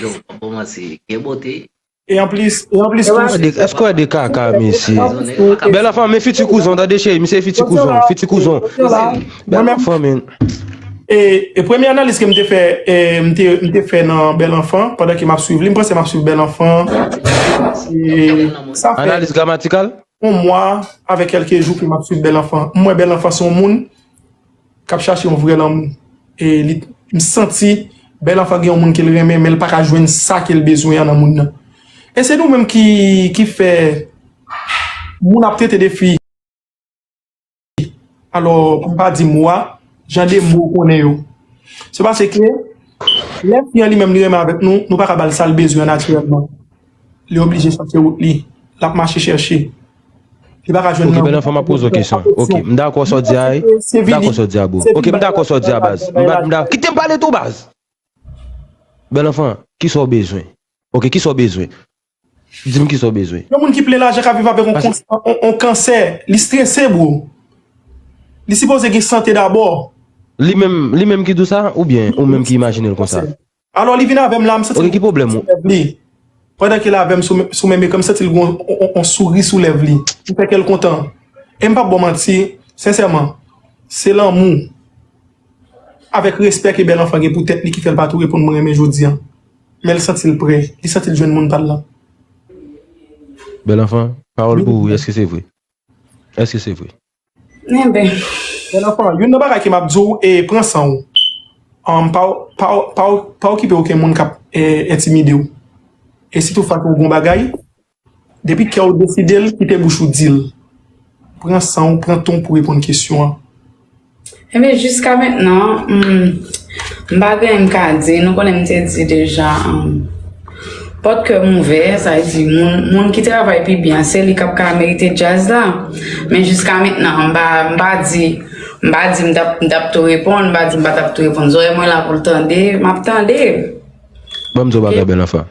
Yo, pa bon manti, gen bote. E anplis, e anplis tou. Eske w ede kaka mesye. Bel anfan men fiti kouzon tande cheri misye e fiti kouzon, fiti kouzon. Bel anfan men. E premye analiz ke m te fè, m te fè nan bel anfan pandan ke m ap swiv li, m panse m ap swiv bel anfan sa fè. Analiz gramatikal? On mwa avèk kelke jou ke m ap swiv bel anfan. M wè bel anfan se yon moun Kap chache yon vrè lanmou e li t m santi bèl anfan gen yon moun kel renmen menl paka jwenn sa kel bezwen an nan moun nan e se nou menm ki ki fè moun ap trete de fi alò pou m pa di mo a jan de mo ou konnen yo se paske lè fi an li menm li renmen avèk nou nou paka bal sal bezwen an natirèlman. Li oblije sa se wout li. Lap mache chèche. Li pa ka jwenn nan. Ok bèl anfan map poze w kesyon. Ok m dakò sa w di a. M dakò sa w di a bro. Ok m dakò sa w di a baz. Kite m pale tou baz. Bèl anfan kisa w bezwen. Ok kisa w bezwen. Di m kisa w bezwen. Yon moun ki plen lajan ka viv avèk yon kansè. Li strese bro. Li sipoze gen sante dabò. Li menm ki di w sa ou byen ou menm ki imajine l konsa. Alò li vin avèm la m santi l gou sou lèv li pandan ke l avèm sou menm ekran m santi l gou on souri sou lèv li m fè kèl kontan e m pap baw manti sensèman se lanmou avèk respè ke bèl anfan gen pou tèt li ki fèl pa tou reponn mwen renmen jodi an men l santi l prè li santi l jwenn moun pal lan. Bèl anfan pawòl pou ou eske se vre eske se vre. Mwen bè. Bèl anfan, youn nan bagay ke map di w e pran san w. Pa okipe oken moun kap entimide w. E sitou fas a yon bon bagay, depi kè w deside l, kite bouch ou di l. Pran san w, pran tan w pou reponn kesyon an. Ebyen jiska mentnan m pa gen anyen m ka di nou konnen m te di deja pòt kè m ouvè sa vle di moun ki travay pi byen se li kap ka merite djaz la men jiska mentnan m pa di m pa di m tap tou reponn m pa di m pa tap tou reponn zòrèy mwen la pou l tande map tande. Banm di yon bagay bèl anfen.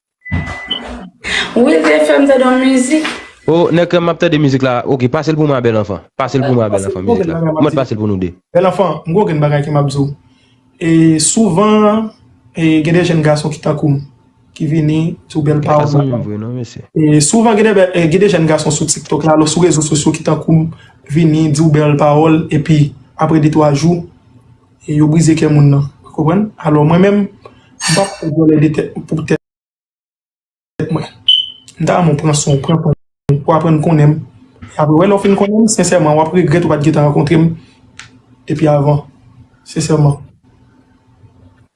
Will te fèm tande yon mizik. Oh nèg krèm map tande mizik la ok pasel pou mwen bèl anfan pasel pou mwen bèl anfan mizik la mwen t pasel pou nou 2. Bèl anfan m gon grenn bagay ke map diw e souvan e gen de jèn gason ki tankou m ki vini sou bèl pawòl e souvan gen de jèn gason sou tiktok la sou rezo sosyo ki tankou m vini diw bèl pawòl epi aprè de twa jou E yo brize kè moun nan. Ou konprann? Alò mwen menm, m pa pou vòlè de tèt m pou tèt mwen. M ta renmen w pran san w, pran tan w, pou aprann konnen m. E apre wè lè w fin konnen m, sensèman w ap regrèt ou pa t gentan rankontre m depi avan. Sensèman.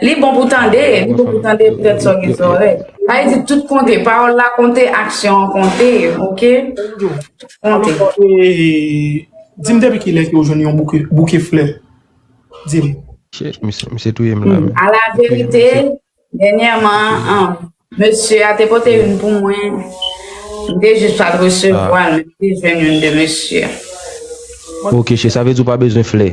Li bon pou tande, li bon pou tande pou tèt sa w gen zòrèy. Sa vle di tout konte, pawòl la konte, aksyon an konte, ok? Konte. Di m depi ki lè ke w jwenn yon bouke flè? Di m. Shit, misye touye m la. A la verite, dènyèman, mesye a te pote youn pou mwen, m te jis pa t resevwa l, men m te jwenn youn de mesye a. Ok, shit, sa vle di w pa bezwen flè?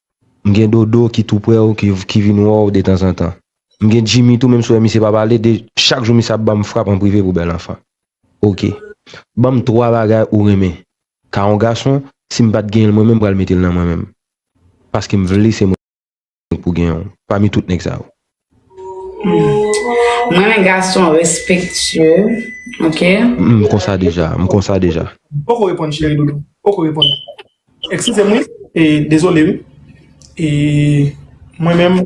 M gen Dodo ki tou prè w ki vin wè w detanzantan. M gen Djimi tou menm si w wè misye pa pale de chak jou misye ap ban m frap an prive pou bèl anfan. Ok. Ban m twa bagay ou renmen ka yon gason si m pa t genyen l mwen menm m pral mete l nan mwen menm paske m vle se mwen pou gen w pami tout nèg sa yo. Mwen men gason respektye ok. M konsa deja m konsa deja. M poko reponn cheri doudou m poko reponn eksizem wi e dezole wi e mwen menm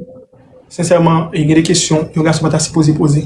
sensèman gen de kesyon yon gason pa ta sipoze poze.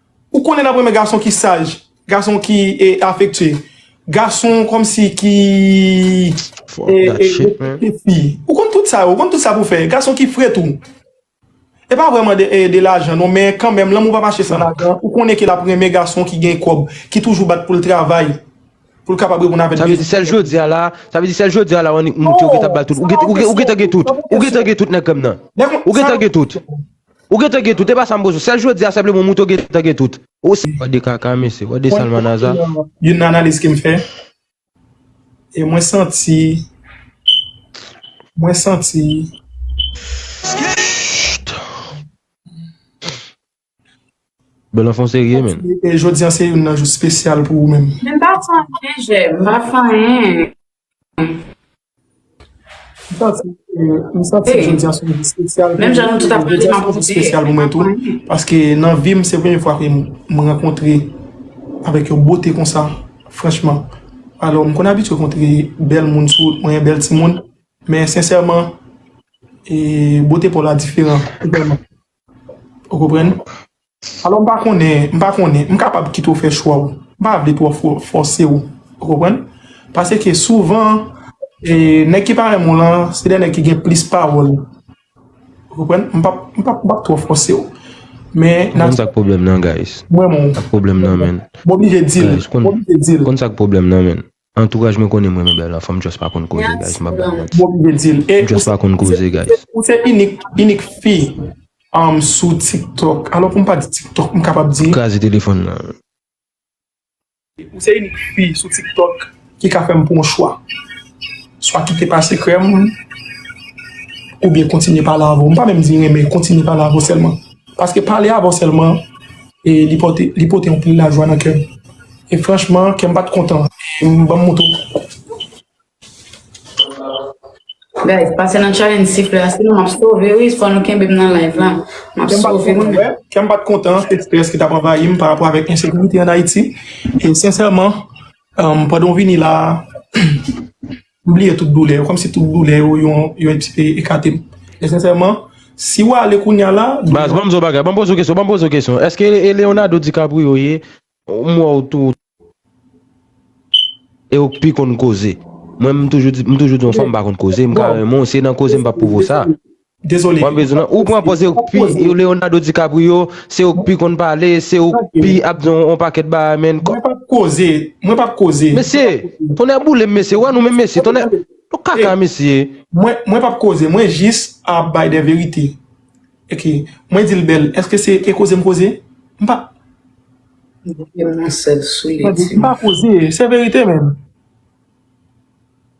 Ou konnen nap renmen gason ki saj, gason ki afektye, gason komsi ki respekte fi. Ou konn tout sa yo, ou konn tout sa pou fè. Gason ki fre tou. E pa vreman de lajan non, men kanmenm lanmou pa mache san lajan. Ou konnen ke lap renmen gason ki gen kob, ki toujou bat poul travay, poul kapab reponn avèk bezwen. Sa vle di sèl jodia la, sa vle di sèl jodia la ou annik moute ou gentan bal tout. Ou gentan gen tout, ou gentan gen tout nèg kòm nan. Ou gentan gen tout. Ou gentan gen tout e pa sa m bezwen. Sèl jodi a senpleman moutre w gentan gen tout. Ou se. Wap de kaka mesye, wap de salmanaza. Mwen konprann youn nan analiz ke m fè e mwen santi mwen santi Bel anfon serye men. Jodi an se youn nan jou spesyal pou ou menm. Men m pa santi jèm, m pa fè anyen. M santi jodi a se yon jou spesyal pou mwen tou, jodi a se yon jou spesyal pou mwen tou, paske nan vi m se premye fwa ke m rankontre avèk yon bote konsa, franchman, alò m konn abitye kontre bèl moun sou wout mwen, bèl timoun, men sensèman, e bote pa w la diferan, totalman. Ou konprann? Alò m pa konnen, m pa konnen, m kapab kite w fè chwa w. M pa vle twò fòse w. Ou konprann? Pase ke souvan, nèg ki pa renmen w lan, se de nèg ki gen plis pawòl. Ou konprann? M pap, m pap, m pap twò fòse w. Men, nan. Ou konn sa k pwoblèm nan, guys? M renmen w. Sa k pwoblèm nan, menn? M oblije di l. M oblije di l. Ou konn sa k pwoblèm nan, menn? Antouraj mwen konnen m renmen bèl anfom just pa konn koze guys map bay manti m just pa konn koze guys. Ou se inik inik fi sou tiktok alò pou m pa di tiktok m kapab di. Kraze telefon nan. Ou se inik fi sou tiktok ki ka fèm pran yon chwa swa kite pase krèm oubyen kontinye pale avèw m pa menm di renmen kontinye pale avèw sèlman paske pale avèw sèlman. E li pote, li pote anpil lajwa nan kè m. E franchman, kè m pa t kontan. E m ban m moto. Guys pase nan challenge sifle a sinon map sove wi fò nou kenbem nan live la map sove wi menn. Kè m pa t kontan, se strès ki t ap anvayi m parapò avèk ensekirite an Ayiti e sensèman pandan w vini la a. M bliye tout doulè yo, kòmsi tout doulè yo yon ti pe ekate m. E sensèman, si ou ale kounya la, doulè yo. Baz, banm di w yon bagay, banm poze w kesyon, banm poze w kesyon. Eske e Leonardo DiCaprio ye, m wè w tou, e ou k pi konn koze. Mwen m toujou di, m toujou di yon fanm m pa konn koze, m ka renmen w, si e nan koze m pap pwouve w sa. Dezole. Mwen bezwen ou pran pòz yo pi yo Leonardo DiCaprio, se ou pi konn pale, se ou pi ap di yon pakèt bagay men. Mwen pap koze, mwen pap koze. Mesye, tonnè boule m mesye, wè nou menm mesye, tonnè, nou kaka mesye. Mwen pap koze, mwen jis ap bay de verite. Ok, mwen di l bèl, eske se e koze m koze? M pa. Mwen di l nan sèl sou li ti. M pa koze, se verite menm.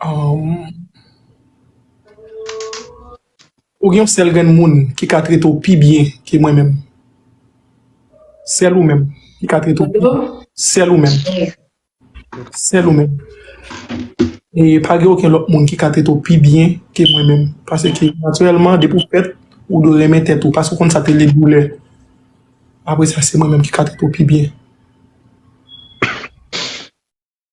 Humm ou gen yon sèl grenn moun ki ka trete w pi byen ke mwen menm sèl ou menm ki ka trete w pi byen sèl ou menm sèl ou menm e pa gen okenn lòt moun ki ka trete w pi byen ke mwen menm paske natirèlman depi w fèt ou dwe renmen tèt ou paske ou konn sa ki rele doulè apresa se mwen menm ki ka trete w pi byen.